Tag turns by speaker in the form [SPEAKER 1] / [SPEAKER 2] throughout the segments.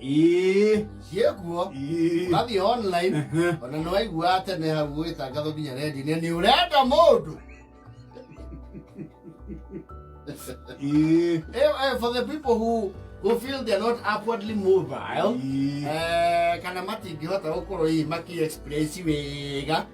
[SPEAKER 1] Ĩĩ. ciĩkuo Ĩĩ. ũgathiĩ online ona nĩ waiguaga tene hau gũgĩtangathwo nginya rendi-inĩ nĩ ũrenda mũndũ Ĩĩ. Eh, eh, for the people who who feel they are not upwardly mobile Ĩĩ. eh, kana matingĩhota gũkorwo hihi makĩ express wega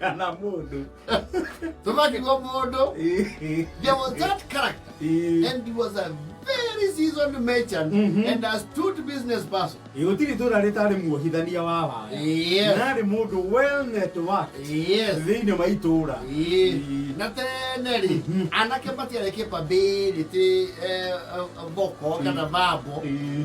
[SPEAKER 1] kana mundu tumatigwo mundu there was that character and he was a very seasoned merchant Mhm. and astute business person gutiri tura ritari muohithania wa waya yes nari mundu well networked yes thiini wa itura Ĩĩ. na tene rĩ Mhm. anake matiarĩ kĩbambĩrĩtĩ boko kana mambo Ĩĩ.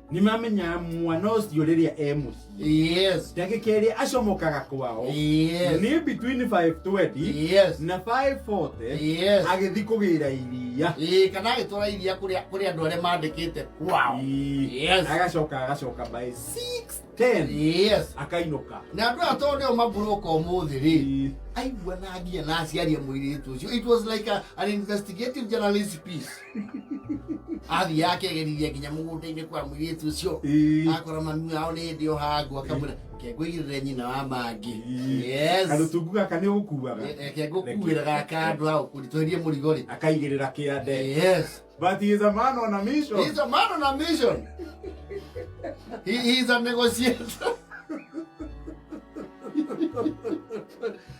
[SPEAKER 1] nĩ mamenyaga mwana ũcio rĩrĩa e mũciĩ Yes. ndagĩka ĩrĩa acomokaga kwao Yes. nĩ between 520 Yes. na 540 Yes. agĩthi kũgĩra iria Eh, kana agĩtwara iria kũrĩa kũrĩ andũ arĩa mandĩkĩte kwao Ii, Yes. agacoka agacoka by 610 Yes. akainũka na andũ aya tondũ nĩo mabũrũka ũmũthĩ rĩ Ii, aigua na nginya na aciaria mũirĩtu ũcio it was like a, an investigative journalist piece athiaga akegeriria nginya mũgũnda-inĩ kwa mũirĩtu ũcio Ĩĩ. akora mami wao nĩ hĩndĩ o hangu akamwĩra kengũigĩrĩre nyina wa mangĩ Yes. karũtungu gaka nĩ ũgũkuaga Eh, eh, kengũkuĩra gaka andũ a ũkũritũhĩrie mũrigo rĩ akaigĩrĩra kĩande Yes. but he is a man on a mission He's a man on a mission. He, he's a negotiator.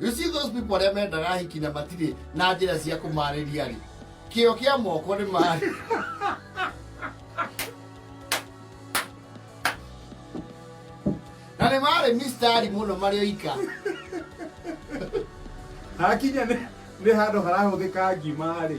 [SPEAKER 1] You see those people arĩa mendaga ahiki na matirĩ na njĩra cia kũmarĩria rĩ kĩo kĩa moko nĩ marĩ na nĩ marĩ mistari mũno marĩ oika hakinya nĩ nĩ handũ harahũthĩka ngima rĩ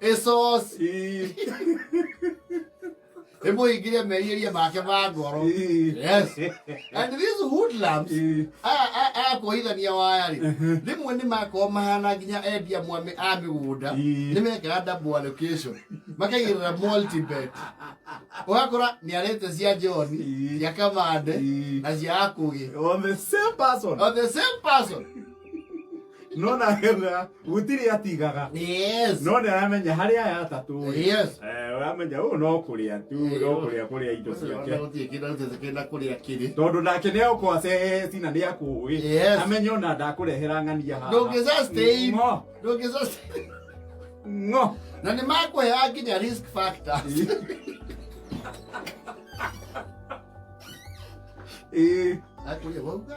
[SPEAKER 1] Esos. Hebu ingilia meiria make ma ngoro. Yes. And these hoodlums aya- aya aya kuhithania waya rĩ rĩmwe nĩ makorwo mahana nginya endia mwame a mĩgũnda Ii. nĩ mekaga double allocation makaigĩrĩra multibet ũgakora nĩ arĩte cia john Ii. cia kamande Ii. na cia akũgĩ On the same person. on the same person no nake na gutiri atigaga Yes. no nä aramenya harä aya atatå rĩ Yes. eh, aramenya å no kå rä a tu Eh, no kå rä a kå rä a indo ciake Gũtirĩ kĩndũ arutĩte kĩna kũrĩa kĩrĩ. tondå nake nä agåkorwo aceheheti na nä akå ä Yes. amenye ona ndakå rehera ng'ania haha. Ndũngĩsustain. Ng'o, Ndũngĩsustain. ng'o. na nä makåheaga nginya risk factors. Ĩ. Akũria, wauga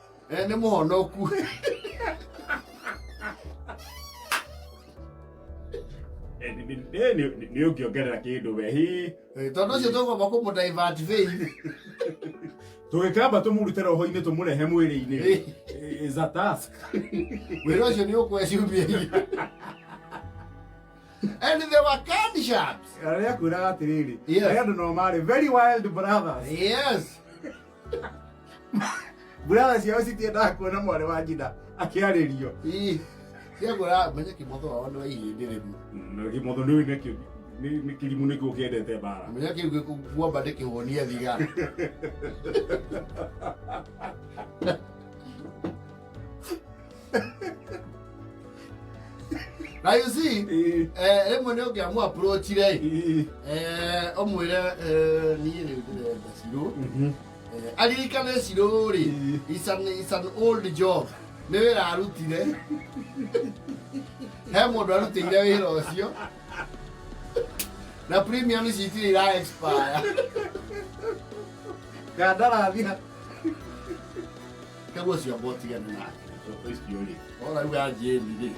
[SPEAKER 1] Eh, nĩ mũhonoku Eh, ni- ni- eh, ni- ni- ni ukiongerera kindu we hi Eh, tondũ ũcio tũgomba kũmũdivert vein tugikamba tumurute roho-ini tumurehe mwiri-ini Eh. Eh, is a task wĩra ũcio nĩ ũkwe ciumia iria and they were canned sharks arĩa kwĩraga atĩrĩrĩ Yes. arĩa andũ nao marĩ very wild brothers yes Burara ciao citiendaga kuona mwarĩ wa nyina akĩarĩrio. Ii, ciagũra menye kĩmotho wao nĩ wa ihĩndĩ rĩmwe Na gĩmotho nĩ ũĩ nakĩo nĩ- nĩ kĩrimũ nĩkĩo kĩendete mbara. menya kĩu gĩkuomba ndĩkĩhũnie thigara na you see Eh, eh, rĩmwe nĩ ũngĩamu approach rĩ eh, eh, ũmwĩre eh, niĩ rĩu ndĩrenda cirũ mhm. Eh, aririkane cirũ rĩ Eh. it's an, it's an old job nĩ wĩra arutire he mũndũ arutĩire wĩra ũcio na premium ici itirĩ ira expire Kandarathi ha- Ke wo si obo ti ge na. So to is yori. O la wa je ni de.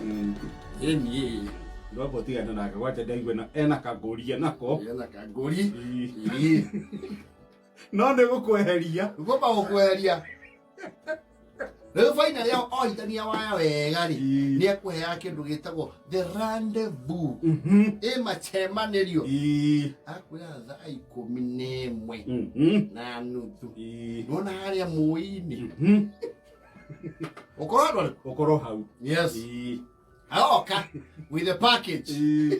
[SPEAKER 1] E ni e. Ndo bo ti ge na ka wa je de gwe na e na ka gori e na ko. E na ka gori. Ii. No ne go kweheria. Go ba go kweheria. Rĩu bainarĩ ao ohithania waya wega rĩ nĩ ekũheaga kĩndũ gĩtagwo the rendezvous Mhm. ĩmacemanĩrio Ĩĩ. akwĩra thaa ikũmi na ĩmwe Mhm. na nuthu Ĩĩ. nona harĩa mũĩ-inĩ Mhm. ũkorwo andũ arĩkũ? Ũkorwo hau. yes Ĩĩ. aoka with the package Ĩĩ.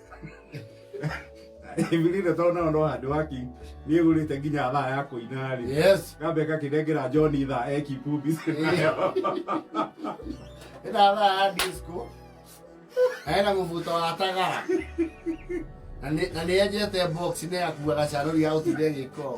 [SPEAKER 1] Ibilire tondũ nao no handũ haki niĩ gũrĩte nginya thaa ya kũina-rĩ, Yes. ngambe ngakĩnengera John thaa eki pumbi nayo Ĩna thaa ya disco. Na ĩna mũbuto wa tagara. Na nĩ- Na nĩ enjete box nĩ akuaga canũri ya gũtinda ĩgĩkoo.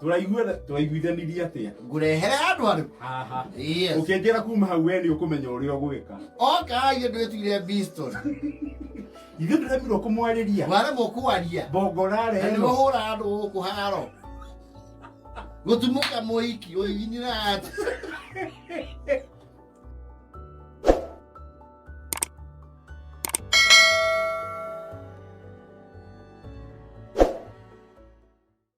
[SPEAKER 1] Tũraiguitha- tũraiguithanirie atĩa ngũrehere andũ arĩ haha yes ũkĩnjĩra kuma hau we nĩ ũkũmenya ũrĩa ũgwĩka oka ithe ndwĩtuire biston ithuĩ ndũremirwo kũmwarĩria waremwo kwaria mbongorare na ĩno nĩmũhũra andũ gũkũ haro gũtumũka mũiki ũiginira ati